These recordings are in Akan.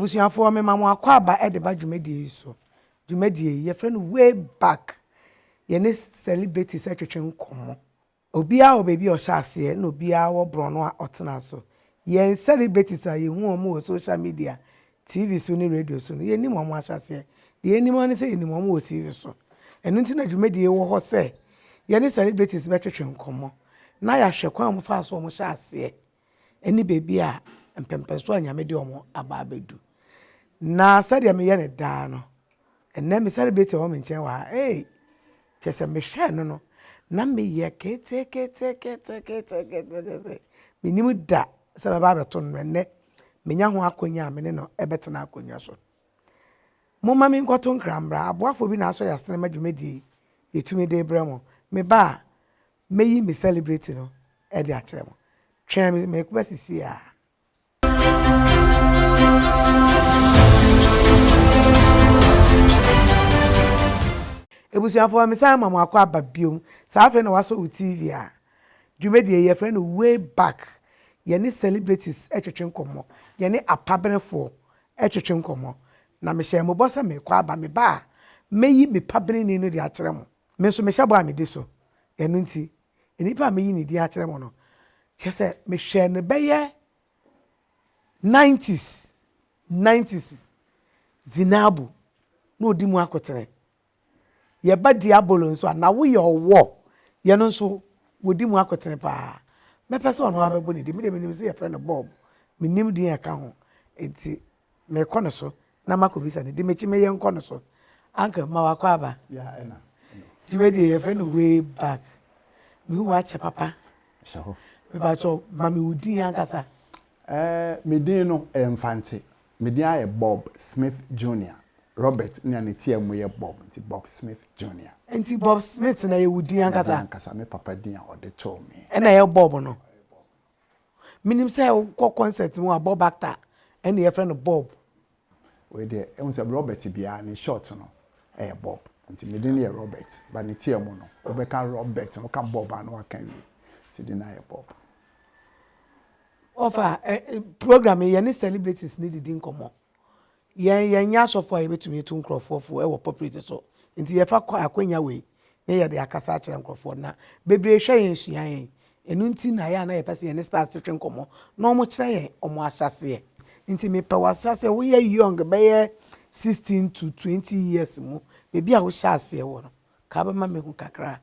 abusuafoɔ mema mo akwaaba de ba dwumadie yi so dwumadie yi yɛfrɛ no way back yɛne celebrities twetwe nkɔmmɔ obiara wɔ baabi a ɔhyɛ aseɛ na obiara wɔ borɔno a ɔtena so yɛn celebrities a yɛhu wɔn wɔ social media tv so ne radio so no yɛnim wɔn ahyɛ aseɛ deɛ yɛnim ara ne sɛ yɛnim wɔn wɔ tv so ɛno nti na dwumadie yi wɔ hɔ sɛ yɛne celebrities bɛtwetwe nkɔmmɔ na yɛahwɛ kwan a wɔfaa so wɔhyɛ aseɛ ne baabi a mpɛmpɛnsoɔ a Nyame de wɔn aba abɛdu. Na sɛdeɛ meyɛ no daa no, ɛnnɛ me celebrate wɔ me nkyɛn wɔ ha ei, kyerɛ sɛ mehwɛɛ no no na meyɛ keteketeketekete, menim da sɛ bɛba abɛto no no, ɛnnɛ menya ho akɔnya a me ne no ɛbɛtena akonnwa so. Momma me nkɔto nkra mmra, aboafoɔ bi na asɔ yɛ asene ma dwumadie yi yɛtumi de brɛ mo. Me ba a, mɛyi me celebrity no de akyerɛ mo. Twɛn me, mɛba sisiaa. Ebusuafoɔ mesan ma mo akɔ aba biom saa afei na wasɔ wo TV a dwumadie yɛfrɛ no way back yɛne celebrities twetwe nkɔmmɔ yɛne apabenefoɔ twetwe nkɔmmɔ na mehyɛɛ mo bɔ sɛ mekɔ aba meba a mɛyi me pabeneni no de akyerɛ mo me nso mehyɛ bɔ a medi so. Ɛno nti, nnipa a meyi ne din akyerɛ mo no, kyerɛ sɛ mehwɛɛ no bɛyɛ nineties, nineties, Zinabu na ɔdi mu akoterɛ. Yɛba Diabolo nso a, na woyɛ ɔwɔ, yɛno nso wɔdi mu akotere paa. Mɛpɛ sɛ ɔno ara bɛbɔ ne din, me deɛ menim sɛ yɛfrɛ no Bob, mennim din a ɛka ho nti. Mekɔ no so na makɔbisa no, di m'akyi ma yɛnkɔ no so. Uncle, ma wakɔ aba. Nti wei deɛ yɛfrɛ no way back. Mehu wo akyɛ papa. Hyɛ hɔ. Mepakyɛw, ma me wo din ankasa. Eh, me din no, ɛyɛ Mfantse. Me din ara yɛ Bob Smith Junior. Robert na ne tsia mu yɛ Bob, nti Bob Smith Junior. Nti Bob Smith na yɛ wo din ankasa? Me din ankasa, me papa din a ɔde too me. Ɛna ɛyɛ Bob no? Menim sɛ wokɔ concert mu a bɔ back a ɛne yɛfrɛ no bob. Wei deɛ ehu sɛ Robert biara ne short no ɛyɛ bob nti me din yɛ Robert but ne tea mu no wobɛka Robert no woka bob a na waka awie nti din no ayɛ bob. Ɔfa program yi yɛne celebrities no didi nkɔmmɔ. Yɛn yɛnyɛ asɔfo a yɛbɛtumi atu nkorɔfoɔ fo wɔ pulpit so, nti yɛfa akwanya wei ne yɛde akasa akyerɛ nkorɔfoɔ na bebree hwɛ yɛn sua yɛn, ɛno nti na ɛyɛ a na yɛpɛ sɛ yɛne stars twetwe nkɔmmɔ na wɔn kyerɛ yɛn wɔn ahyɛaseɛ. Nti mepɛ w'ahyɛaseɛ, woyɛ young bɛyɛ 16 to 20 years mu baabi a wohyɛ aseɛ wɔ no Ka bɛ ma mehu kakra.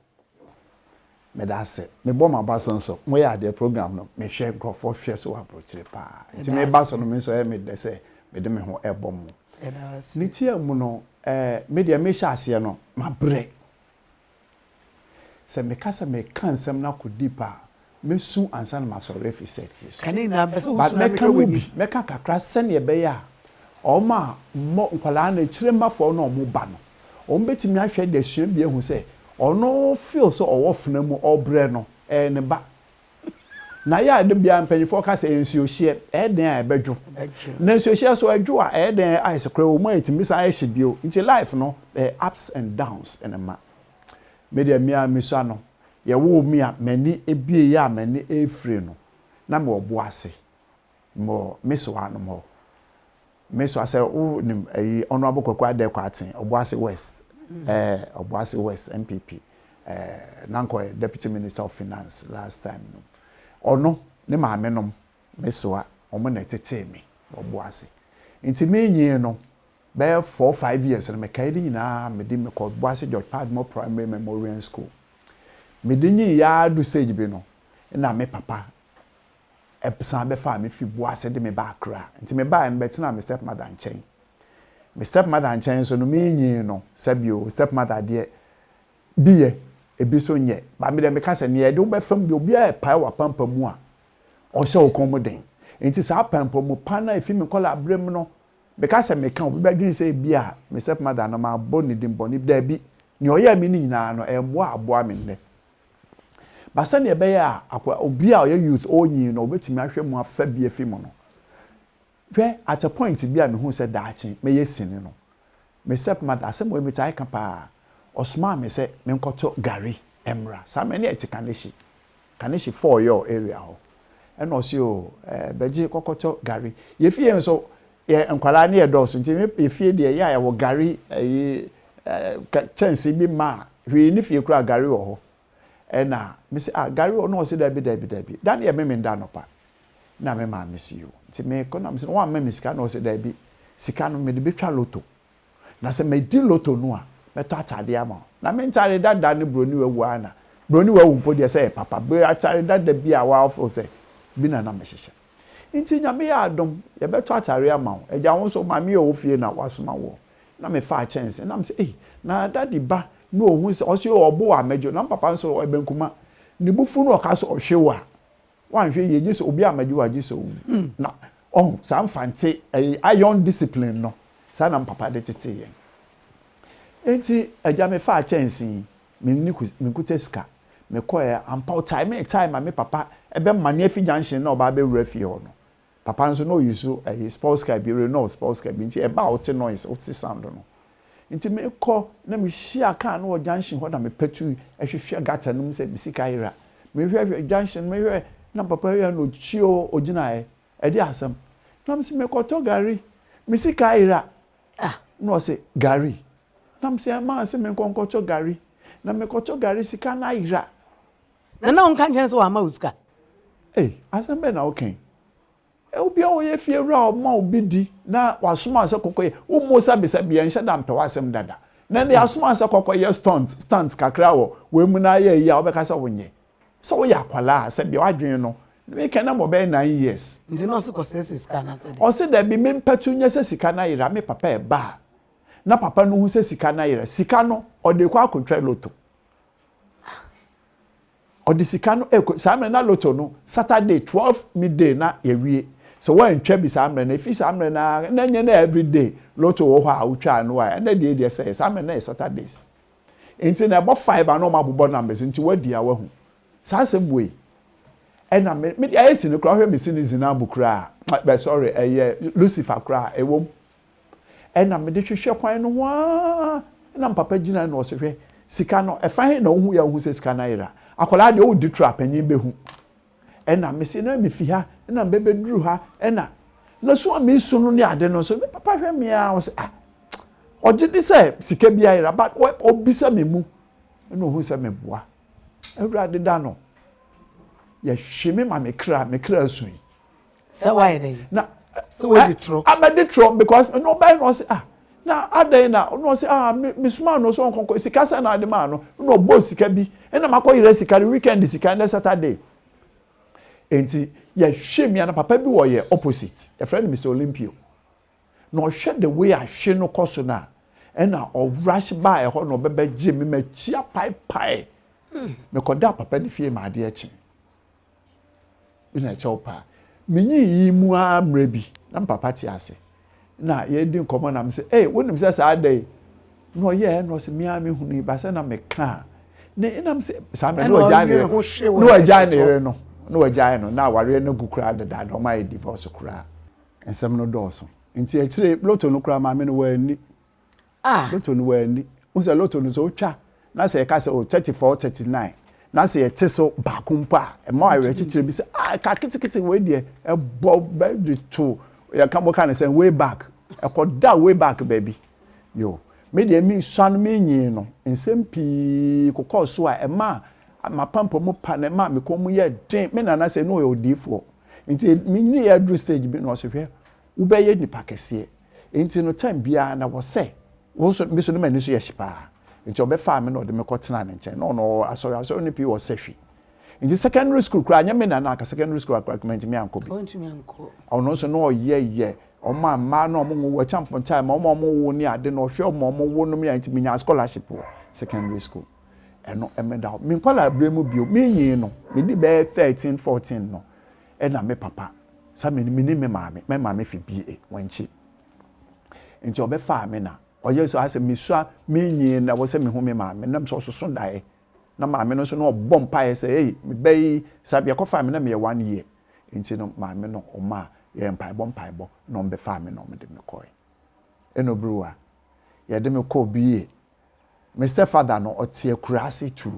Medase. Mebɔ maba so nso. Moyɛ adeɛ program no mehwɛ nkurɔfoɔ hwɛ so wɔ abrokyire paa. Nti meba so no me nso ɛyɛ me dɛ sɛ mede me ho ɛbɔ mo. Ne tia mu no eh me deɛ mehyɛ aseɛ no mabrɛ. Sɛ meka sɛ meka nsɛm no akɔ deep a Mɛsu ansa na masɔre afi Seti so. Ka ne nyinaa, mepɛ sɛ wosu na mehwɛ w'anim. But mɛka mu bi, mɛka kakra sɛnea ɛbɛyɛ a wɔn a mmɔ nkwadaa no, akyiremmafoɔ no na wɔn ba no, wɔn bɛtumi ahwɛ de asua bi ahu sɛ ɔno feel sɛ ɔwɔ fena mu, ɔbrɛ no, ɛyɛ ne ba. Na yɛ a da biara mpanyinfoɔ ka sɛ nsuohyeɛ, ɛyɛ dɛn a ɛbɛdwo? Na nsuohyeɛ so ɛdwo a, ɛyɛ dɛn a ayɛ sɛ koraa ɛwɔ mu a ɛtumi san hyɛ bio. Nti life no, ɛyɛ ups and downs na ɛma. Me deɛ me ara misa no, yɛwoo me a m'ani bueeɛ a m'ani refire no, na mewɔ bo ase? Mewɔ Meso hanom hɔ. Meso ha sɛ wonim ayi Honourable Kwaku Adekwa Aten, Obuasi West, ɛɛ Obuasi West NPP, ɛɛ na nka ɔyɛ Deputy Minister of Finance last time no. Ɔno, ne maame nom, Meso ha, wɔn na ɛtetee me wɔ bo ase. Nti menyee no, bɛyɛ four five years no mekae ne nyinaa mede mekɔ Boase George Padmore Primary Memorian School mede nyin yɛ ara du sage bi no na me papa san bɛfaa me fi Boase de me baa Accra nti mebaeɛ no bɛtenaa me step mother nkyɛn me step mother nkyɛn nso no menyin no sɛbio step mother deɛ bi yɛ ebi so nyɛ ba me deɛ meka sɛ nea ɛde wo bɛfa mu deɛ obiara ɛpae wɔ apampa mu a ɔhyɛ wo kɔn mu den nti saa apampa mu pa no a ɛfi me nkɔla berɛ mu no Meka sɛ meka a, obi bɛdwene sɛ ebia me stepmother no, mabɔ ne din bɔne bi. Dabi. Nea ɔyɛɛ me no nyinaa no, ɛmmoa a aboa me nnɛ. But sɛnea ɛbɛyɛ a akoa, obi a ɔyɛ youth, ɔrenyin no, obetumi ahwɛ mu afa bi afi mu no, hwɛ, at a point bi a mihuu sɛ daakye mɛyɛ sini no, Me step mother, asɛm wei metaa ka paa, ɔsomaa me sɛ menkɔtɔ gari mmra. Saa mmerɛ no na yɛte Kaneshie, Kaneshie Fɔɔ Yɔɔ area hɔ. Ɛna ɔse oo ɛɛ Bɛgye kɔkɔtɔ gari. Yɛ fie nso yɛ nkwadaa no yɛ dɔɔso nti me yɛ fie deɛ yɛ a yɛwɔ gari ɛyi ɛɛ kyɛnse bi ma a hwee nni fie koraa gari wɔ hɔ. Ɛna me se ah Gary ɔno ɔse dabi dabi dabi da no yɛ meme da anɔpa na me maame se yoo nti me kɔ na me se no wamma me sika na ɔse dabi sika no mede betwa loto na sɛ medi loto no a mɛtɔ ataadeɛ ama wo na me ntaade dada ne broni wawu a na broni wawu mpo deɛ sɛ yɛ papa be atare dada bi a waafo sɛ bi na na mehyehyɛ nti nyame yɛ adom yɛbɛtɔ atare ama wo agya wo nso maame yɛ wɔ fie na wasoma woɔ. na me faa kyɛnse na me sɛ ei na daddy ba na ohun sɛ ɔso yɛ ɔbo a mɛgye na me papa nso ɔyɛ bɛnkuma ne bo fu na ɔka sɛ ɔhwɛ wo a wanhwɛ yie gye sɛ obi a mɛgye wo a gye sɛ owu hmm. na ɔho saa mfante ɛyɛ iron discipline no saa na me papa de tete yɛn enti agya me faa kyɛnse me ne me nkuta sika mekɔɛ ampa ɔtae me tae ma me papa ɛbɛma ne afi junction na ɔba abɛwura fie hɔ no Papa nso na ɔ use ɛyi spolska bi Renault spolska bi nti ɛba a wo te noise wo te sound no nti me kɔ na me hyia car no wɔ junction hɔ na me patu hwehwɛ gutter no mu sɛ me sika ayera me hwɛ hwɛ junction no me hwɛ na papa wia na ɔkyio ɔgyinaɛ ɛde asɛm na me se me kɔ tɔ gari me sika ayera ah na ɔse gari na me se ɛmaa se me nkɔ nkɔ tɔ gari na me kɔ tɔ gari sika no ayera. Na na ɔnka nkyerɛ no sɛ wamma wo sika. Ei, asɛm bɛn na woka yi? Obi a ɔyɛ fiewura a ɔma obi di na wasoma wo sɛ kɔkɔyɛ, wommɔ osa besa biara, nhyɛ da mpɛ w'asɛm dada. Na ɛnde yɛasoma wo sɛ kɔkɔyɛ stunt, stunts kakra wɔ wei mu na ayɛ ayi a wobɛka sɛ wonyɛ. Sɛ woyɛ akwadaa a, sɛdeɛ w'adwene no, me kan na ma ɔbɛyɛ nine years. Nti na ɔse kɔsrɛsrɛ sika anaasɛ dɛn? Ɔse dabi, me mpatu nyɛ sɛ sika no ayera, me papa ɛba a na papa no hu sɛ sika no ayera, sika no ɔde rekɔ akɔtwa lotto. ɔde sika no ɛkɔ saa mmerɛ na loto no saturday twelve midday na yɛwie sɛ wɔantwa bi saa mmerɛ no efi saa mmerɛ na na nyɛ na everyday loto wɔ hɔ a wotwa no a ɛnɛ deɛ deɛ sɛ saa mmerɛ na yɛ saturdays nti na ɛbɔ five a na wɔn abobɔ numbers nti wɔadi a wɔahu saa asɛm wei ɛna me me deɛ ayɛ si no koraa hwɛ me si ne zinaa mu koraa bɛ sorry ɛyɛ lucifer koraa ɛwɔ mu Ɛna mede hwehwɛ kwan no ho ara na me papa gyinae na ɔse hwɛ sika no ɛfa he na wohu yɛ a wohu sɛ sika no ayera akwadaa deɛ ɔredi toro a panyin bɛhu ɛna mese na mefi ha ɛna mbɛbɛduru ha ɛna na so a mesu no ne ade no nso me papa hwɛ me a ɔse ah ɔgye de sɛ sika bi ayera but ɔbisa me mu ɛna ɔhu sɛ meboa awurade da no yɛhwe me ma me kra me kra asu yi sɛ wayɛ dɛ na sɛ wɔde turo amɛde turo because ɛna ɔbɛyɛ na ɔsɛ ah na adɛn na ɔna ɔsɛ ah me me suma no so ɔnkɔnkɔ sika sɛ na ade maa no na ɔbɔ sika bi ɛna makɔ yerɛ sika no weekend sika ɛna saturday nti yɛhwɛ mia na papa bi wɔ yɛ opposite yɛfrɛ no mr olympio na ɔhwɛ the way ahwe no kɔ so no a ɛna ɔrush baa ɛhɔ na ɔbɛbɛgye me makyia paepae hmm. mekɔda papa no fie ma adeɛ kye bi na ɛkyɛ wo paa. Minyin iyi mu ara mmerɛ bi, na me papa te ase. Nna yɛredi nkɔmmɔ na mese, Ei, wonim sɛ saa da yi na ɔyɛɛ? Na ɔse, Me ara mehunuu yi, ba sɛ na mekaa ne na mese, saa mmerɛ na wagyae ne yere, na wagyae ne yere no, na wagyae no, na awareɛ no agu koraa dedaada, wɔayɛ divorce koraa. Nsɛm no dɔɔso. Enti akyire yi, lotto no koraa, maame no wanni. Ah! Lotto no wanni. Wohu sɛ lotto no sɛ wotwa na sɛ yɛka sɛ o 34, 39 na sɛ yɛte so baako mpo a, ɛma wo awerɛkyekyerɛ bi sɛ ah ɛka ketekete wei deɛ ɛbɔ bɛgye to yɛka moka no sɛ way back ɛkɔda way back baabi yo me deɛ mesuan menyee no nsɛm pii kokɔɔ so a ɛma mapampamu pa na ɛma me kɔn mu yɛ den me nana sɛ ne ɔyɛ odiifoɔ nti menyiniiɛ aduru stage bi na ɔse hwɛ wobɛyɛ nnipa kɛseɛ nti no time biara na wɔ sɛ wo nso me so no m'ani so yɛ hye paa nti ɔbɛfaa me na ɔde me kɔ tenaa ne nkyɛn na ɔno asɔre asɔre no pii wɔ sɛ hwi nti secondary school koraa nyɛ me na na aka secondary school akora kuma ntumi ankɔ bi ɔno nso na ɔyɛ yɛ ɔmo a mmaa na ɔmo wɔ kyɛ mpontaa ma ɔmo a ɔmo wo ne ade na ɔhwɛ ɔmo a ɔmo wo nom yɛ nti menya scholarship wɔ secondary school ɛno ɛmeda hɔ menkɔ library mu bio menyin no medi bɛyɛ thirteen fourteen no Ɛna me papa sa me ne me maame, me maame fi BA, Wenchi. Nti ɔbɛfaa me na ɔyɛ sɛ asɛ mesua menyi na wɔ sɛ mehu me maame nam sɛ ɔsoso daeɛ na maame no nso na ɔbɔ mpaeɛ sɛ ei meba yi sa bi ɛkɔfaa me na meyɛ one year nti no maame no ɔma yɛ mpaebɔ mpaebɔ na ɔmbɛfaa me na ɔmde me kɔe ɛna obiriwa yɛde me kɔɔ BA Me stepfather no, ɔte akuraase tuu.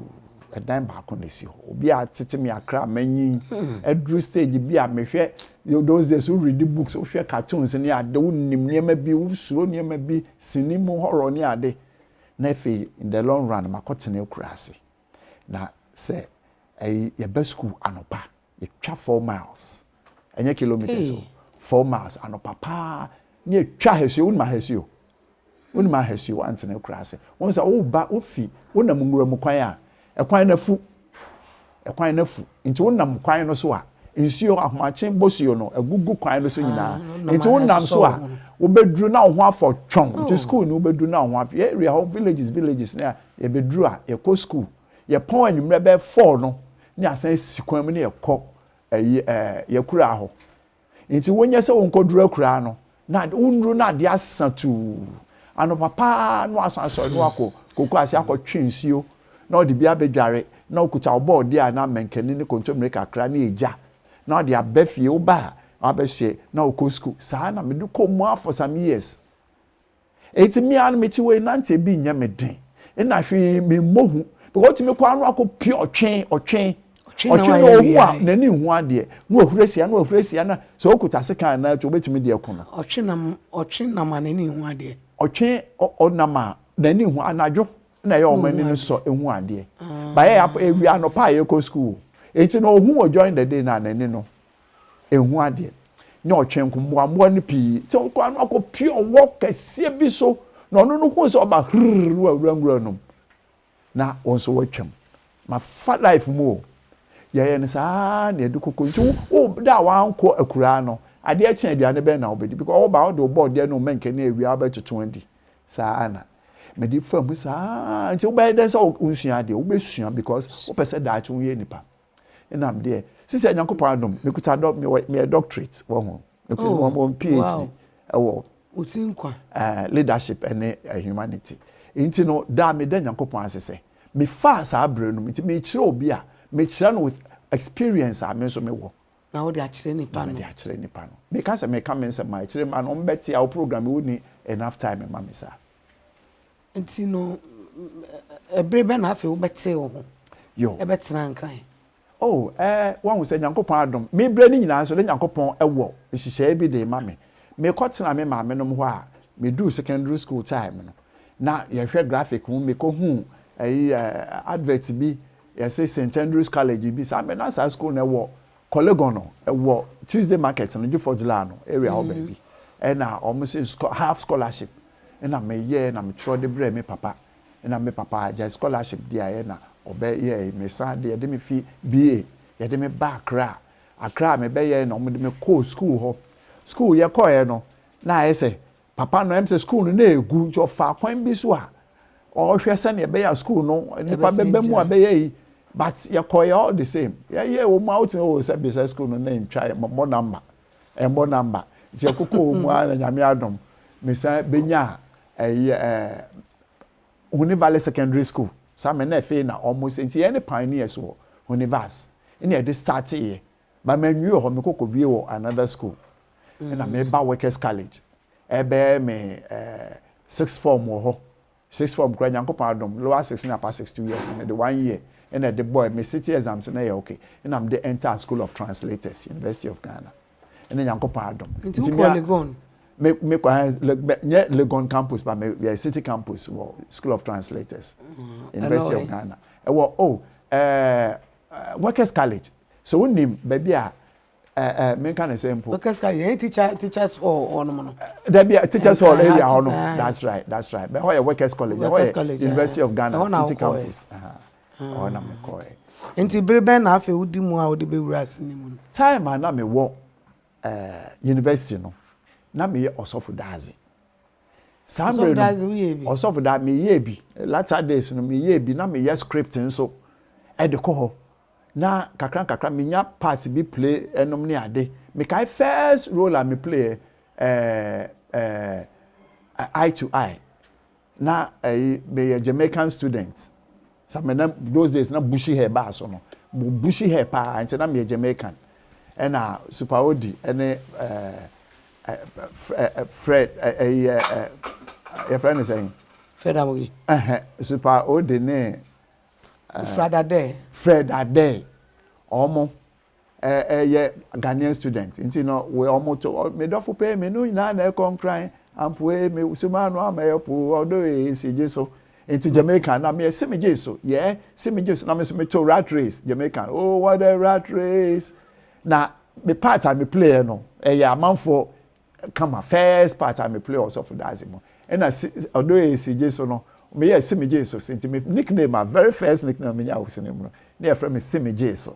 Ɛdan baako na esi hɔ. Obi a tete me akra manyin. Aduru hmm. stage bi a mehwɛ those days wo read books, wohwɛ cartoons ne ade, wo nim nneɛma bi, wo suro nneɛma bi, sini mu horror ne ade. Na afei in the long run makɔtena akuraase. Na sɛ ɛyi yɛba school anopa. yɛtwa four miles ɛnyɛ kilometres o four miles anɔpa paa ne yɛtwa ahasuo wonim ahasuo wonim ahasuo woantena akura ase wɔn sɛ woba wofi wonam nwura mu kwan a ɛkwan no afu ɛkwan no afu nti wonam kwan no so a nsuo ahomakye bɔsuo no agugu kwan no so nyinaa ah, nti wonam so a wobɛduru na wo ho afɔ twɔn nti oh. school no wobɛduru na wo ho afɔ yɛ area hɔ villages villages ne a yɛbɛduru a yɛkɔ school Yɛpɔn anwummerɛ bɛyɛ four no ne asan si kwan mu ne yɛkɔ ɛyi ɛɛ yɛkuraa hɔ. Nti wonyɛ sɛ wonkɔduru akuraa no na wonuru na adeɛ asesa tuu. Anɔpa paa na wasan asɔre na wakɔ koko ase akɔtwe nsuo na ɔde bi abɛdware na wokuta wo bɔɔdeɛ a na mankani ne kontommire kakra ne egya na ɔde aba fie woba a wabɛhye na wokɔ sukuu. Saa na mede kɔɔ mu a for some years. Enti me ara mete hɔ yi nante bi nyɛ me den. Nna hwee memmɔ hu. Because otumi kɔ ano akɔ pie ɔtwe ɔtwe ɔtwe na ohu a n'ani nhu adeɛ na wahura sia na wahura sia na sɛ okuta sekan anaa tu obetumi de ɛko no. Ɔtwe nam ɔtwe nam a n'ani nhu adeɛ. Ɔtwe ɔnam a n'ani nhu anadwo na ɛyɛ wɔn ani no sɔ ehu adeɛ. Bayɛ ewia anɔpa a yɛkɔ sukuu. Enti na ohu wɔ during the day na n'ani no Ehu adeɛ. Nyɛ ɔtwe nko, mmoammoa no pii sɛ ɔkɔ ano akɔpue ɔwɔ kɛseɛ bi so, na ɔno no hu sɛ ɔba hrrr no wawura nwura nom, na wɔn nso wɔatwam. Mafa life mu o. Yɛyɛ no saa ara na yɛde koko nti wo da a wankɔ akuraa no, adeɛ kye aduane bɛn na wobɛdi because woba wode wo bɔɔdeɛ ne wo mɛnkɛ ne awia wobɛtoto adi. Saa ara na mede fa mu saa ara nti wobɛyɛ dɛn sɛ wonsua adeɛ? Wobɛsua because wopɛ sɛ daakye woyɛ nipa. ɛna deɛ sisi nyankopɔn adom mekuta dɔ meyɛ doctorate wɔ ho mekuta oh, wɔn phd ɛwɔ wosi nkwa ɛɛ leadership ɛne eh, humanity nti no daa meda nyankopɔn ase sɛ mefaa saa bere no nti mekyerɛ obi a mekyerɛ no with experience a me nso mewɔ na wode akyerɛ nipa no mede akyerɛ nipa no meka sɛ meka me nsɛm a ɛkyerɛ ma no ɔmbɛte a wo program woni enough time ma me saa Nti no, ɛbere bɛn na afei wobɛtee wo ho bɛtenaa Nkran? Oh, eh, wahu sɛ Nyankopɔn adom, me berɛ no nyinaa nso, na Nyankopɔn wɔ nhyehyɛeɛ bi de rema me. Mekɔtenaa me maamenom hɔ a meduu secondary school time no, na yɛhwɛ graphic mu, mekɔhuu ɛyi, eh, advert bi, yɛse St. Andrew's College bi, saa mmerɛ na saa school no ɛwɔ Korlegon no, ɛwɔ Tuesday Market no, Juffords Laa no area hɔ baabi, ɛna wɔn se half scholarship, na meyɛɛ na metwerɛ de brɛɛ me papa na me papa agyae scholarship de ayɛ na ɔbɛ yɛe me san de yɛde me fi BA yɛde me ba Accra Accra me bɛ yɛe na ɔmo de me kɔɔ school hɔ school yɛ kɔɔɛ no na ayɛ sɛ papa no ɛm sɛ school no na ɛgu nti ɔfaa kwan bi so a ɔhwɛ sɛnea ɛbɛyɛ a school no nipa bɛbɛ mu a bɛyɛ yi but yɛkɔɔɛ all the same yɛyɛ wɔn a wote o sɛ bisa school no na ntwa yɛ mɔmɔ number Ɛmmɔ number. Nti ɛkokɔɔ mu ara na Nyame adom me san benyaa ɛyi ɛɛ Huni Valley Secondary School. Saa mɛ na ɛfei na ɔmo sɛ nti yɛn ne pioneers wɔ Huni Vas ɛna yɛde starteeɛ. But mannwie wɔ hɔ, mekɔ kɔbie wɔ another school ɛna meba Workers College ɛɛbɛyɛ me ɛɛ sixth form wɔ hɔ Sixth form koraa Nyankopɔn adom lower six ne upper six two years na mede one year na ɛde bɔɛ me city exams na ɛyɛ ok na mede enter school of translators University of Ghana ɛne Nyankopɔn adom Nti nti wokɔ Legon? me me kɔ eh, le, bɛ- nyɛ Legon campus ba me yɛ city campus wɔ school of translators University of ɛnɔe Ghana ɛwɔ oh eh, eh, workers college so wonim baabi a ɛɛ menka ne sɛ mpo. because kari yɛn teacher teachers hall hɔ nom no. dabi teachers hall area hɔ no that's right that's right bɛn hɔ yɛ workers college bɛn hɔ yɛ university of ghana city campus ɔhɔ na mi kɔ yɛ. nti bere bɛn na afei wodi mu a wode bɛwura ase ne mu no. time a na mewɔ ɛɛ university no na meyɛ ɔsɔfo daadze. saa mmerɛ no ɔsɔfo da meyɛɛ bi latter days no meyɛɛ bi na meyɛ script nso ɛde kɔ hɔ na kakra kakra menya parts bi play ɛnom ne ade mekae first role a me play ɛɛ eh, ɛɛ eh, eye to eye na ɛyi eh, meyɛ Jamaican student Sa me na those days na bushy hair baa so no mo bushy hair paa nti na me yɛ Jamaican ɛna Super Odi ɛne ɛɛ Fred ɛyɛ ɛɛ yɛ Fred ne sɛn. Fred Amobi. Ɛhɛn Super Odi ne. Fred Adɛ. Fred Adɛ ɔmo ɛyɛ Ghanaian student nti no we ɔmo to me dɔfo pɛ me no nyinaa na ɛkɔ nkran ampoe me suma ano ama yɛ po ɔdɔ ee si gye so nti Jamaica na me si me gye so yɛ si me gye so na me so me to rat race Jamaica oh what a rat race na me part a me play no ɛyɛ amanfoɔ kama first part a me play ɔsɔfo daase mu ɛna ɔdɔ ee si gye so no me yɛ si me gye so nti me nickname a very first nickname me nya wɔ sinimuna ne yɛ fɛ me si me gye so.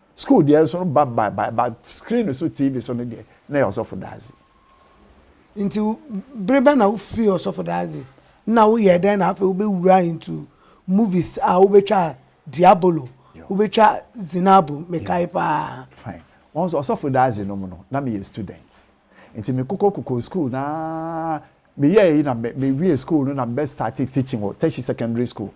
Sukuu deɛ nso no ba ba ba ba screen so TV so no deɛ na yɛ ɔsɔfo daadze. Nti bere bɛn na wofirii ɔsɔfo daadze na woyɛɛ dɛn na afei wobɛwuraa into movies a wobɛtwaa Diabolo, wobɛtwa Zinabo, mekae paa. Fine. Wɔn nso ɔsɔfo daadze no mu no na meyɛ student. Nti mekokɔ kokɔ sukuu na meyɛɛ yi na me me wiee sukuu no na mebɛ starte teaching wɔ Teshie Secondary School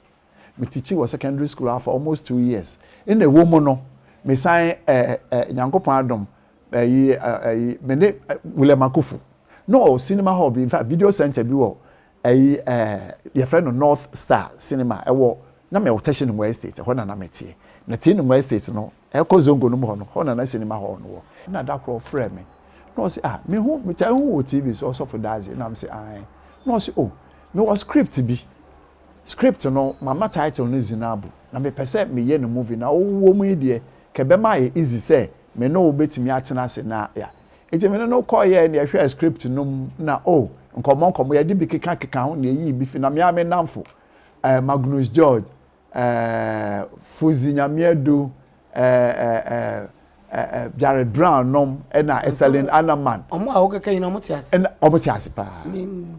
me teachi wɔ secondary school ara for almost two years nna ɛwɔ mu no me san ɛɛ ɛ nyankopɔn adom ɛyi ɛyi me ne William Akufu na ɔwɔ cinema hall bi in fact video center bi wɔ ɛyi ɛɛ yɛfrɛ no North Star cinema ɛwɔ na mɛ wɔ tɛhyɛ no mu estate ɛhɔ na na mɛ teɛ na tee no mu estate no ɛkɔ zongo no mu hɔ no hɔ na na cinema hall no wɔ na da korɔ ɔfrɛ me na ɔsi ah me ho me taa ho wɔ tv so ɔsɔfo daadze na me si ae na ɔsi oh me wɔ script bi Script no mama title no Zinabu na mepɛ sɛ meyɛ no movie na wo wɔ mu yi deɛ ka ɛbɛma ayɛ easy sɛ me ne wo bɛtumi atena ase na yɛ Nti me ne no kɔeɛ na yɛhwɛɛ script no mu na oh nkɔmmɔ nkɔmmɔ yɛde bi keka keka ho na yɛyii bi fi na me ara me nnamfo eh, Magnus George eh, Fuzzy Nyame Adu Jared Brown nom ɛna Eselin Anaman. Ɔmo a wokeka nyina ɔmo te ase. Ɛna ɔmo te ase paa.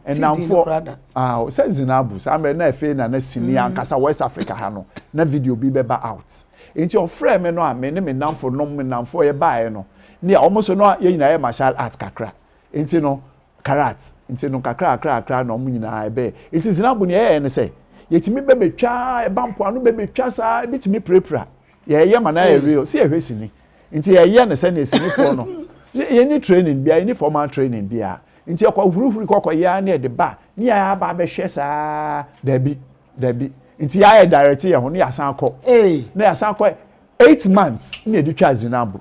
Ɛnamfo ah sɛ Zinabu saa mmerɛ na ɛfɛ na na sini mm. ankasa West Africa ha no na video bi bɛba out. Nti ɔfrɛ me no a me ne me namfo nom me namfo yɛ baeɛ no ne a ɔmo so no yɛ nyinaa yɛ martial art kakra. Nti no karat nti no kakrakrakra na wɔn nyinaa ɛbɛɛ. Nti Zinabo nea ɛyɛɛ ne sɛ, yɛtumi bɛbɛtwa ɛba mpoano bɛbɛtwa saa ɛbɛtumi pirapira. Yɛɛyɛ ma no ayɛ real sɛ yɛhwɛ sini. Nti yɛɛyɛ no sɛdeɛ sinifoɔ no, yɛnni training biara, yɛnni formal training biara. Nti yɛkɔ hurihuri kɔkɔ yɛ ara ne yɛde ba, ne yɛɛ aba abɛhwɛ saa, daabi, daabi. Nti yɛa yɛ direct yɛn ho ne yɛasan akɔ, na yɛasan akɔ eight months ne yɛde twaa Zinabo.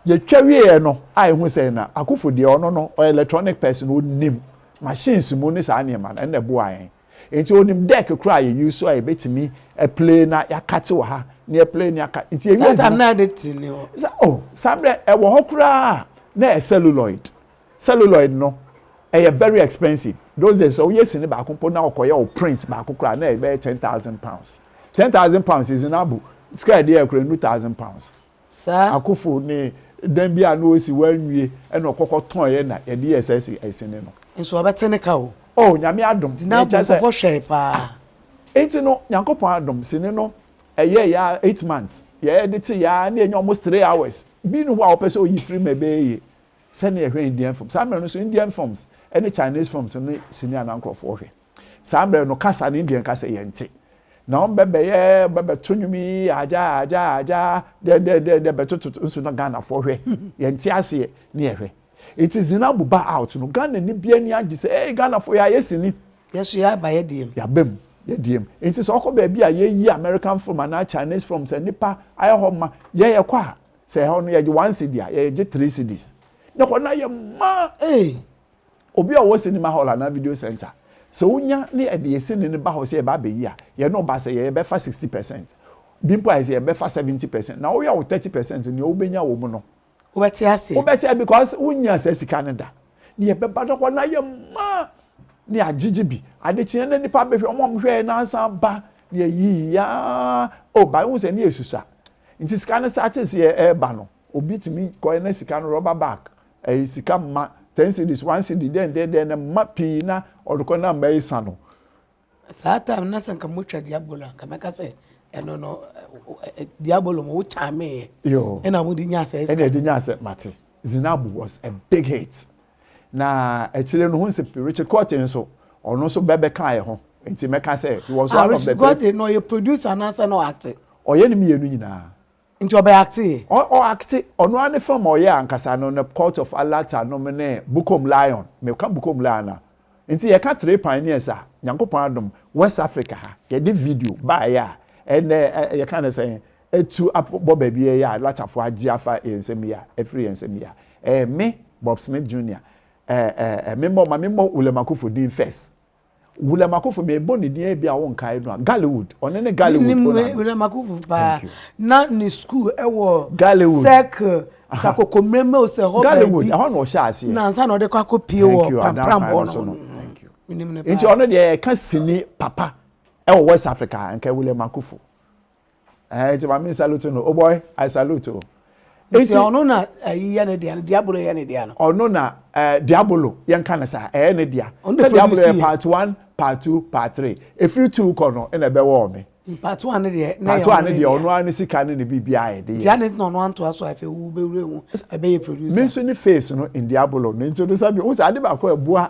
Yɛtwa wieɛ no a yɛhu sɛ na Akufo deɛ ɔno no ɔyɛ electronic person, ɔnim machines mu ne saa nneɛma no, ɛno na ɛboaa yɛn. Nti ɔnim deck koraa a yɛ use so a yɛbɛtumi play na yɛakate wɔ ha na yɛplay na yɛaka. Nti yɛwie Saa time no a de te ne hɔ. Sa, oh, saa mmerɛ ɛwɔ hɔ koraa a na ɛyɛ celluloid. Celluloid no ɛyɛ very expensive. Those days sɛ woyɛ sini baako mpo na ɔkɔyɛ wo print baako koraa na ɛbɛyɛ ten thousand pounds. Ten thousand pounds is in abu sika a ɛde yɛ koraa ɛnnu thousand pounds. Saa Akufo ne dan bi a na osi wanwie na ɔkɔ kɔ tɔnɛ na yɛde yɛɛ saa si ɛsi ne no. Nso ɔbɛte ne ka o. Oh Nyame adom. Nti na Bonkofo hwɛe paa. Nti no Nyankopɔn adom sini no ɛyɛɛ yɛ ara eight months yɛɛ de te yɛ ara na yɛnya almost three hours bi ni hɔ a ɔpɛ sɛ oyi firi mu a ɛbɛyɛ yie sɛnea yɛhwɛ Indian films saa mmerɛ no nso Indian films ɛne Chinese films no ne sini a na nkorɔfoɔ hwɛ. Saa mmerɛ no, kasa no deɛ nka sɛ yɛnte. Na wɔn bɛbɛyɛ bɛbɛto nnwom yi agya agya agya dɛdɛdɛdɛ bɛtototo nso na Ghanafoɔ hwɛ yɛnte aseɛ ne yɛhwɛ. Nti Zinabu ba out no, Ghana ni bi ani agye sɛ ee Ghanafoɔ yɛayɛ sini. Yɛso yɛaba yɛdiem. Yɛaba mu yɛdiem. Nti sɛ ɔkɔ baabi a yɛyi American film anaa Chinese film sɛ nnipa ayɛ hɔ ma, yɛn yɛkɔ a, sɛ ɛhɔ no yɛgye one cedi a, yɛgye three cedis. Ne hɔ no ayɛ ma! Ee! Obi a ɔwɔ cinema hall anaa video centre, sɛ onya na yɛde yɛn sini no ba hɔ sɛ yɛba abɛyi a, yɛne wo ba sɛ yɛ, yɛbɛfa sixty percent. Bi mpo ayɛ sɛ yɛbɛfa seventy percent. Na woyɛ wo thirty percent, nea wobɛnya wɔ mu no, Wobɛte aseɛ. wobɛte a because wonyaa saa sika no da. Na yɛbɛba na hɔ no ayɛ ma, na yɛagyegye bi. Ade kyeeɛ na nnipa bɛhwɛ, wɔn a wɔhwɛeɛ no asan ba, na yɛyiiɛ aa, oh, but wohu sɛ na yɛsusua. Nti sika no startee sɛ yɛreba no, Obi tumi kɔɛ na sika no rubber bag, ɛyɛ sika mma, ten cedis, one cedi, dɛn dɛn dɛn na mma pii na ɔde kɔ na mma esa no. Saa time no na sɛ nka motwa diabolo a nka mɛka sɛ ɛno no diabolo mo wokyaameeɛ ɛna mode nyaa sɛ ɛna ɛde nyaa sɛ mate Zinab was a big hit na akyire no ho nsɛ Richard Court nso ɔno nso bɛbɛka yɛ ho nti mɛka sɛ he was ah, one of the Richard Court no ɔyɛ producer anaasɛ na ɔate ɔyɛ ne mmienu nyinaa Nti ɔbɛ acte yɛ? Ɔ ɔ acte ɔno ara ne film a ɔyɛ ankasa no no cult of Alata nom ne Bukom lion me ka Bukom lion a nti yɛ ka three pioneers a Nyankopɔn adom west Africa ha yɛ de video baeɛ a ɛnɛ ɛ yɛ ka no sɛn atu abɔ baabi ɛ yɛ a Alatafoɔ agye afa yɛn nsam yi a afiri yɛn nsam yi a ɛyɛ me Bob Smith Junior ɛ ɛ ɛ me mmɔ ma me mmɔ William Akuffo din first William Akofo mebɔ ne din bi a wonkae no a Gallywood ɔno ne Gallywood ɔna no William Akofo paa na ne school ɛwɔ Gallywood circle sakoko mmerɛmɛ o sɛ hɔ baabi Gallywood ɛhɔ na ɔhyɛ aseɛ na nsa na ɔde kɔ akɔ pie wɔ pampram hɔ no nti ɔno deɛ ɛka sini papa ɛwɔ West Africa nka William Akofo ɛɛ nti maame salute no o oh boy i salute o. nti ɔno na ɛyi yɛ ne dea no diabolo yɛ ne dea no. ɔno na ɛɛ diabolo yɛn ka ne sa ɛyɛ ne dea sɛ diabolo yɛ part one part two part three efiri two kɔ no ɛna ɛbɛ wɔ ɔmi. part one ne deɛ na yɛ ɔno ne dea part one ne deɛ ɔno ano sika ne ne biribi ayɛ de yɛ. tia ne tena ɔno anto aso afɛ wu bɛ wura mu ɛbɛ yɛ producer. mi nso ne face no in diabolo ne nti o de sɛ bi o sɛ ade baako ɛboa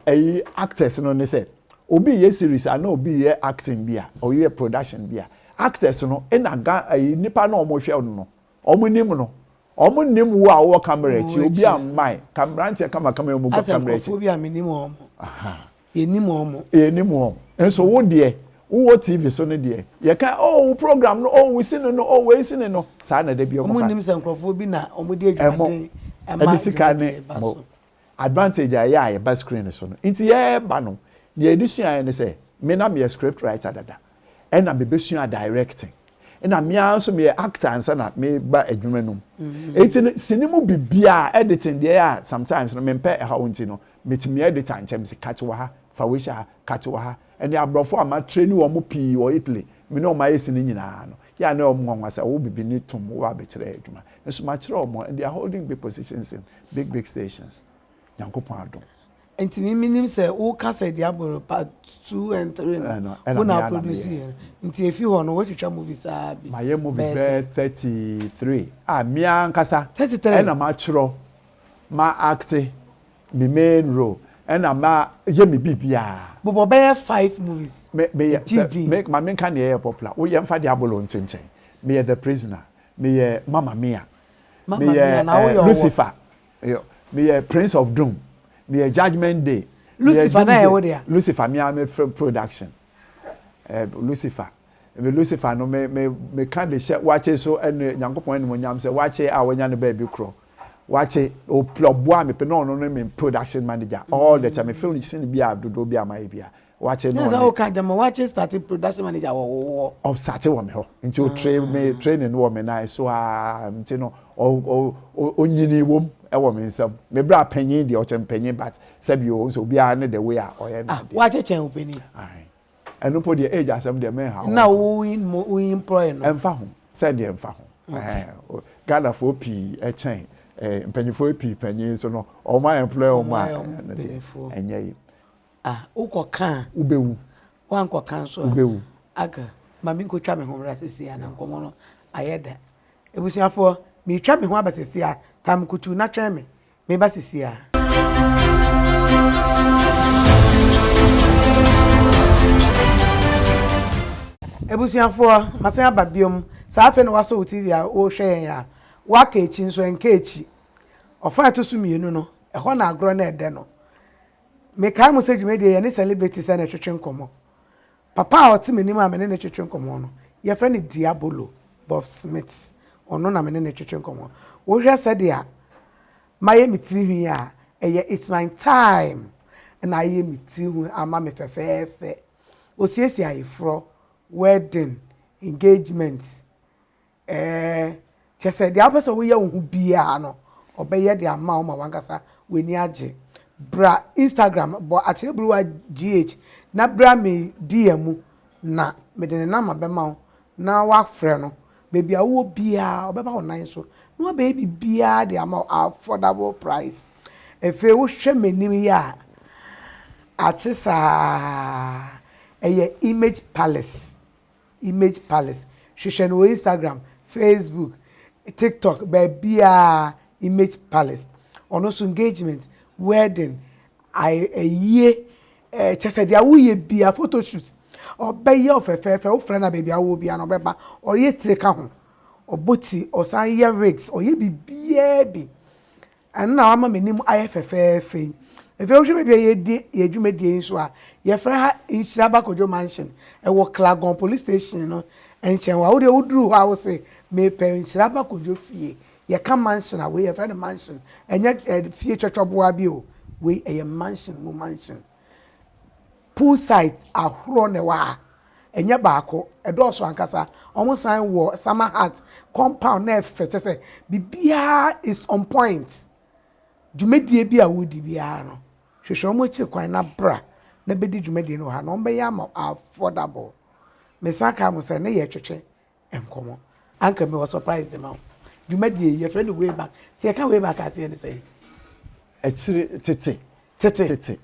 Ɛyi actors no ne sɛ obi yɛ series a na obi yɛ acting bi a ɔyɛ production bi a actors no ɛna ga ɛyi nipa na wɔn hwɛ no no wɔn nim no wɔn nim wo a wɔwɔ camera akyi obi a mmae kamranteɛ kama kama wɔn bɔ camera akyi. Asɛ nkurɔfoɔ bi a mi nim wɔn yɛ nim wɔn. Yɛ nim wɔn nso wo deɛ wo wɔ TV so no deɛ yɛ ka oh wo program no oh wo si no no oh wei si no no saa na ɛdɛ bi wɔn fa. Wɔn nim sɛ nkurɔfoɔ bi na wɔn de adwumaden ɛma adwumaden ba so. advantage a ɛyɛ a yɛba screen no so no nti yɛreba no nea yɛde suaeɛ ne sɛ me na meyɛ script writer dada ɛna mebɛsua directing ɛna me ara nso meyɛ actor ansa na meba adwuma no mu mm-hmm. nti no sini mu biribiara editing deɛ a sometimes no mempɛ ɛhaw nti no metumi editor nkyɛm si kate wɔ ha fa wei hyɛ ha kate wɔ ha ɛne aborɔfo a matrɛ ne wɔn pii wɔ Italy me ne wɔn ayɛ sini nyinaa no Yɛ a na wɔn nwanwa sɛ wɔwɔ bibini tum wɔ abɛkyerɛ adwuma. Nso makyerɛ wɔn and they are holding big positions in big big stations. Nyankopɔn adom. Nti me menim sɛ wo ka sɛ Diabolo part two and three no Ɛno ɛna wo na me ara na produce meyɛ. yɛ no nti efi hɔ no wotwitwa movies aa bi Mayɛ movies bɛyɛ sɛ. thirty three a me ara ankasa Thirty three. ɛna matwerɛ, ma acte, me main role ɛna ma yɛ me biribiara. Bobɔ bɛyɛ five movies me me yɛ sɛ me ma me nka nea ɛyɛ popular wo yɛ nfa de abolo nkyenkyen me yɛ the prisoner me yɛ mama mia me yɛ eh, lucifer me yɛ prince of doom me yɛ judgement day lucifer na yɛ wo dea lucifer mia me production eh, lucifer Me Lucifer no, me, me, meka de hyɛ wakye so ne Nyankopɔn animonyam sɛ wakye a wanya ne baabi korɔ. Wakye, ɔpla ɔboa me pe na ɔno ne me production manager all the time. Me film sin bi a dodoɔ bi a mayɛ bi a wakye no. Nyansa woka dɛm, wakye starte production manager wɔ wo wɔ. Ɔstarte wɔ me hɔ, nti ɔtre me ah. training no wɔ me nan so a, nti no ɔnyini wom ɛwɔ me nsam. Me bra panyin deɛ ɔkyɛ mpanyin but sɛbi o, nso obiara ne the way a ɔyɛ no. Ah, wakye kyɛn o panyin. Ayi. ɛno mpo deɛ age asɛm deɛ mɛnha ho na woyimpɔe no ɛmfa ho sɛ deɛ ɛmfa ho ghanafoɔ pii ɛkyɛn mpanyifoɔ pii panyin so no wɔn a ɛmplɔɛ wɔn a ɛno deɛ ɛnyɛ yi ah wokɔ kan wobɛwu wankɔ kan so wobɛwu aga maame nkotwa me ho mmra sisi a na nkɔmɔ no ayɛ da ebusuafoɔ metwa me ho aba sisi a tam kutu na twɛn me Meba sesiaa. Abusuafoɔ, masan aba biom. Saa afei na woasɔ wo TV a worehwɛ yɛn a, woaka akyi nso a, nka akyi. Ɔfã a ɛto so mmienu no, ɛhɔ na agorɔ no redɛ no. Mekae mo sɛ dwumadie yi, yɛne celebrities na ɛtwetwe nkɔmmɔ. Papa a ɔte m'anim a me ne no twetwe nkɔmmɔ no, wɔfrɛ no Diabolo, Bob Smith. Ɔno na me ne no twetwe nkɔmmɔ. Wohwɛ sɛdeɛ mayɛ me tiri nhwi a, ɛyɛ it's my time na ayɛ me tiri nhwi ama me fɛfɛɛfɛ. Ɔsiesie ayeforɔ, wedding, engagement. Ɛɛ, kyerɛ sɛ deɛ wopɛ sɛ woyɛ wo ho biara no, ɔbɛyɛ de ama wo ma w'ankasa w'ani agye. Bra Instagram, bɔ Akyerɛburuwa GH na bra me DM mu na mede ne nɔma bɛma wo na woafrɛ no. Baabi a wowɔ biara, ɔbɛba wo nan so na wabɛyɛ biribiara de ama wo at affordable price. Afei wohwɛ m'anim yi a, akye saa, ɛyɛ Image Palace Image Palace, hwehwɛ no wɔ Instagram, Facebook, TikTok, baabiara, Image Palace. Ɔno nso engagement, wedding, aye, ayie, eh, kyɛ sɛ deɛ woyɛ bia, photoshoot, ɔbɛyɛ wo fɛfɛɛfɛ, wofrɛ no a baabi a wowɔ bia no ɔbɛba, ɔyɛ tire ka ho, ɔbɔ ti, ɔsan yɛ wigs, ɔyɛ biribiara bi. Ɛno na wama m'anim ayɛ fɛfɛɛfɛ yi. Afei wohwɛ baabi a yɛredi yɛn dwumadie yi nso a, yɛfrɛ ha Nhyira Bakodwo Mansion. Ɛwɔ Klagon Police Station no nkyɛn hɔ a. Wo deɛ woduru hɔ a wo se, Mepɛ Nhyira Bakodwo fie. Yɛka mansion a, wei yɛfrɛ no mansion. Ɛnyɛ fie twɔtwɔboa bi o. Wei ɛyɛ mansion mu mansion. Pool sites ahoroɔ na ɛwɔ ha, ɛnyɛ baako, ɛdɔɔso ankasa. Wɔn san wɔ summer hut compound na ɛfɛ kyɛ sɛ biribiara is on point. Dwumadie bi a woredi biara no, hwehwɛ wɔn akyiri kwan na bra na bɛdi dwumadie no wɔ ha na wɔbɛyɛ ama wo affordable. Mesan kae mo sɛ ne yɛ twetwe nkɔmɔ. Anka mewɔ surprise de ma wo. Dwumadie yi yɛfrɛ no way back. Sɛ yɛka way back a aseɛ ne sɛn? Akyire, tete. Tete. Tete.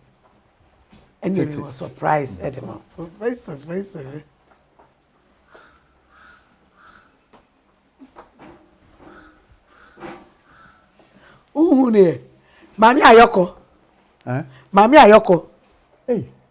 Ɛnneɛ mewɔ surprise de ma wo. Surprise, surprise, surprise. Wohu ne yɛ? Maame Ayɔkɔ. Maame Ayɔkɔ. Hey.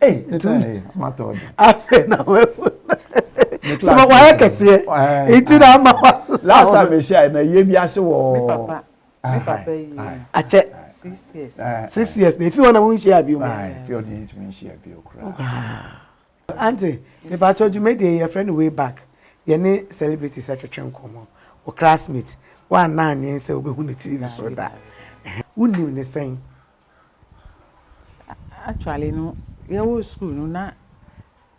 Hey, ntumi. Afei na wahu. So ma wayɛ kɛseɛ. Nti na ama wasesa. Last time mehyia na yie bi ase wɔ. Me papa. Me papa yi. Akyɛ. Six years. Six years. Na efi hɔ na mo nhyia bi mu. Efi hɔ na yɛntumi nhyia bi okura. Ante, mepa kyɛ dwumadie yɛ friend way back. Yɛne celebrities atwetwe nkɔmmɔ. Wo classmate. Wɔanna anwen sɛ wobɛhu no TV so da. Wonim ne sɛn? Actually no yɛwɔ sukuu no na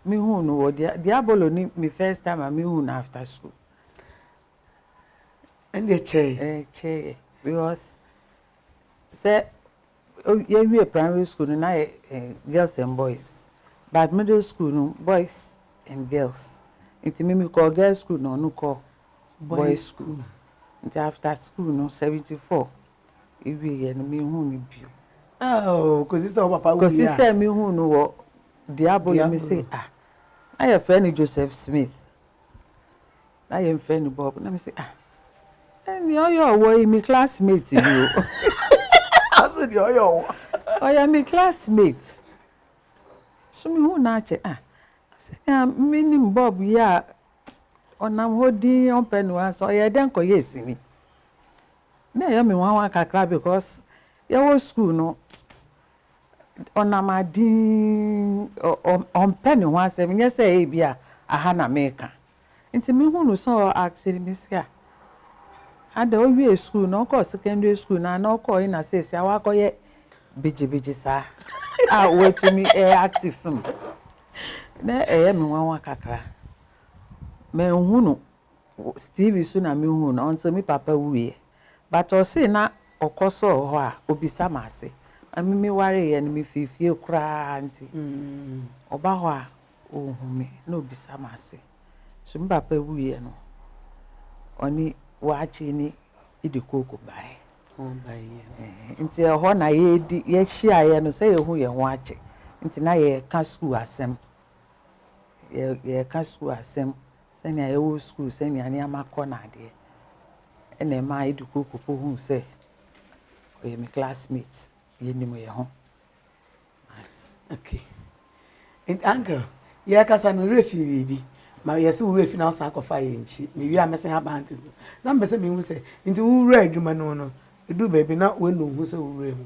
mehuu no wɔ Diabolo ne me first time a mehuu no after sukuu. Ɛnna ɛkyɛe. Ɛkyɛe because sɛ yɛwie primary school no na yɛ girls and boys but middle school no boys and girls nti me mekɔɔ girls school na ɔno kɔɔ boys school nti after sukuu no seventy four. Ewieɛ no, menhuu no bio. Aww, kɔsi sɛ wo papa wuiɛ a. Kɔsi sɛ mehuu no wɔ Diabolo, me se ah, na yɛfrɛ no Joseph Smith, na yɛmfrɛ no Bob, na me se ah, eh, nea ɔyɛ ɔwɔ yi, me classmate ni o. Ase nea ɔyɛ ɔwɔ. Ɔyɛ me classmate. So mehuu no akyɛ ah, sɛnea menim Bob yi a, ɔnam hɔ dinn, ɔmpɛ ne ho ase, ɔyɛɛ dɛn kɔyɛɛ sini? na ɛyɛ me nwanwa kakra because yɛwɔ school no ɔnam aden ɔmpɛ ne ho asɛm nyɛ sɛ ebi a aha na meka nti me hu no sɛ ɔ asking me sɛ a ada owie school na ɔkɔ secondary school na na ɔkɔ yi na sɛsi a wakɔ yɛ bigyibigyi saa a watumi ɛyɛ active film na ɛyɛ me nwanwa kakra mɛ hu no TV so na me hu no until me papa wuiɛ but ɔsee na ɔkɔ sɔɔ hɔ a ɔbisa me ase na me me wareeɛ no me firi fie koraa nti ɔba hɔ a ɔhu me na ɔbisa me ase so me papa wuiɛ no ɔne waakye ne idikoko baeɛ nti ɛhɔ na yɛdi yɛhyiaeɛ no sɛ yɛhu yɛn ho akye nti na yɛka sukuu asɛm yɛka sukuu asɛm sɛnea yɛwɔ sukuu, sɛnea nneɛma kɔ no adeɛ na ɛma Eduku popo hu sɛ ɔyɛ me classmate, yɛnim yɛn ho. Okay. Nti uncle, yɛkasa no werɛ fi biribi ma yɛse wo werɛ fi na wosan kɔfa yɛ nkyi mewie a mɛsen aba ante so na mpɛ sɛ mehu sɛ nti wo wura adwuma no mu no ɛduru baabi na woanu wo ho sɛ wo wura mu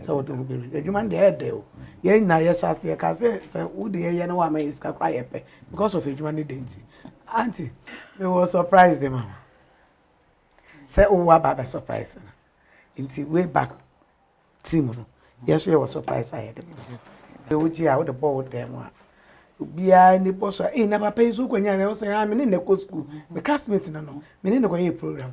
Sɛ wode ho bɛwura mu. Adwuma no deɛ ɛyɛ dɛ o. Yɛn nyinaa yɛhyɛ ase yɛka sɛ sɛ wode yɛyɛ na woama yɛ sika koraa yɛpɛ because of adwuma no dɛ nti. Aunty, mewɔ surprise de ma wo. Sɛ wowɔ aba abɛ surprise no. Nti way back team no, yɛn nso yɛwɔ surprise a yɛde ma wo. Deɛ wogye a wode bɔ wo dan mu a obiara ni bɔ so a ee na papa yi nso kɔnya na wo sɛ ah me ne na ɛkɔ sukuu me classmate no no me ne na kɔyɛ program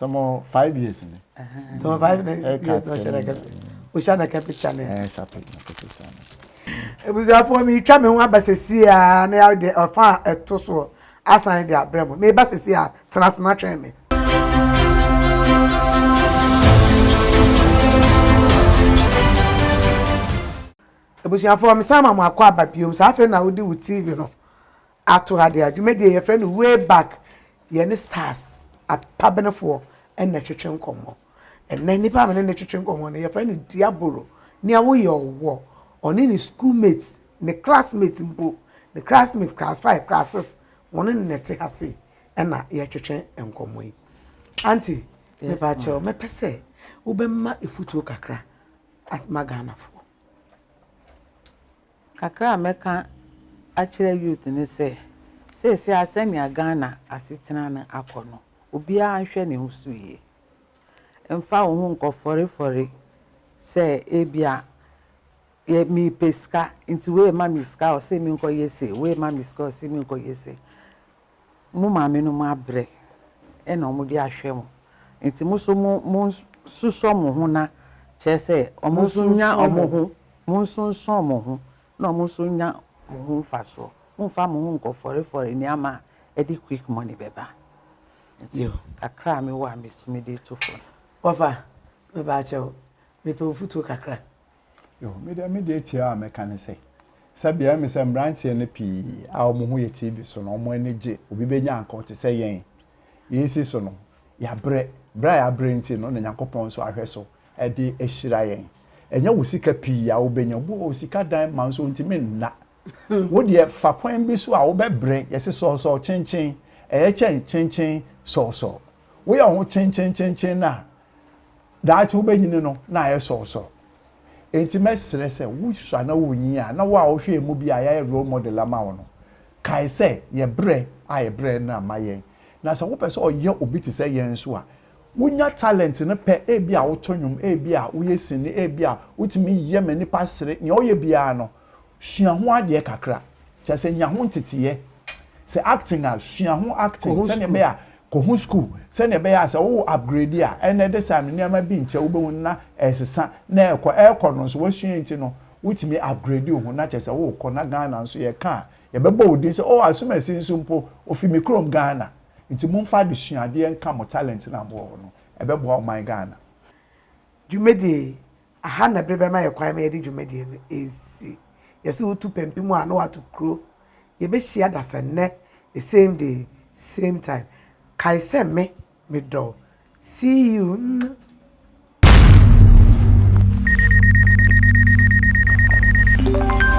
tɔmɔ five years ni. tɔmɔ five years na ɔhyɛ na kɛpɛ ɔhyɛ na kɛpɛ hyɛ ne. ɛɛ hyɛ na kɛpɛ hyɛ ne. ebusuafoɔ mi twa mi ho aba sɛsi a na yà de ɔfa a ɛto soɔ asan de abrɛ mo mi ba sɛsi a tena ase na twɛn mi. ebusuafoɔ mi san ma mo akɔ aba biom saa afei na wodi wo tv no. ato ha deɛ a dwumadie yi yɛfrɛ no way back yɛne stars apabenefoɔ na ɛtwetwe nkɔmmɔ ɛnɛ nnipa a mene ne twetwe nkɔmmɔ no yɛfrɛ no diabolo nea woyɛ ɔwɔ ɔne ne school mate ne classmate mpo ne classmate class five class six wɔn ne ne te ha sei ɛna yɛtwetwe nkɔmmɔ yi anti mepa kyɛw mɛpɛ sɛ wobɛma efutuo kakra atma ghanafoɔ Kakra a mɛka akyerɛ youth ne sɛ, seesei ara sɛnea Ghana asetena no akɔ no, obiara nhwɛ ne ho so yie. Mfa wo ho nkɔfɔrefɔre sɛ ebia yɛ mepɛ sika nti wei rema me sika a ɔse menkɔyɛ sei, wei rema me sika a ɔse menkɔyɛ sei. mo maamenom abrɛ na wɔde ahwɛ mo, enti mo nso monsusɔ mo ho na, kyerɛ sɛ, wɔn nso nnya wɔn ho, monsonsɔn mo ho na wɔn nso nnya mo ho mfasoɔ. Mommfa mo ho nnkɔfɔrefɔre nneɛma a ɛde quick money bɛba. Nti kakra a mewɔ a metumi de reto fam. Wɔfa, mebaakyɛw, mepɛ mfutuo kakra. Yoo, me deɛ, me deɛ tiaa a mɛka ne sɛ, sɛbea ɛme sɛ mmeranteɛ no pii a wɔn ho yɛ TV so no, wɔn ani gye obi bɛnya anka ɔte sɛ yɛn. Yei nsi so no, yɛabrɛ. Berɛ a yɛabrɛ nti no na Nyankopɔn nso ahwɛ so de ahyira yɛn. Ɛnyɛ wo sika pii a wobɛnya. Obi wɔ hɔ, sika dan ma nso ɔntumi nna. Wo deɛ, fa kwan bi so a wobɛbrɛ. Yɛse sɔɔsɔɔ kyenkyen, ɛyɛ kyɛn kyenkyen sɔɔsɔɔ. Woyɛ wo ho kyenkyenkyenkyen no a, daakye wobɛnyini no na ayɛ sɔɔsɔɔ. Enti mɛsrɛ sɛ wosua na wonyin a, na wo a wohwɛ yɛn mu bi a yɛayɛ role model ama wo no, kae sɛ yɛn brɛ a yɛbrɛɛ no no amma yɛn. Na sɛ wopɛ sɛ ɔyɛ obi te sɛ yɛn nso a, wunya talent no pɛ, ebia woto nnwom, ebia woyɛ sini, ebia wotumi yɛ ma nnipa sere, nea ɔyɛ biara no, sua ho adeɛ kakra kyerɛ sɛ nya ho nteteeɛ sɛ acting a sua ho acting sɛdeɛ ɛbɛyɛ a kɔ ho school sɛdeɛ ɛbɛyɛ a sɛ wo upgrade a ɛnna ɛde saa no nneɛma bi nkyɛ wobɛhu na ɛresesa na ɛrekɔ ɛrekɔ no nso wasua nti no wotumi upgrade wo ho na kyerɛ sɛ worekɔ na Ghana nso yɛka a yɛbɛbɔ wo din sɛ oh asomasi nso mpo ofi me kurom Ghana nti momfa adesuadeɛ nka mo talent no a mowɔ hɔ no ɛbɛboa ɔman Ghana. Dwumadie Aha na bere bɛma yɛn kwan ma yɛde dwumadi no asi. Yɛse wotu pampim a na woato kuro. Yɛbɛhyia dasannɛ the same day, same time. Kae sɛ me, medɔ wo. See you. Mwah.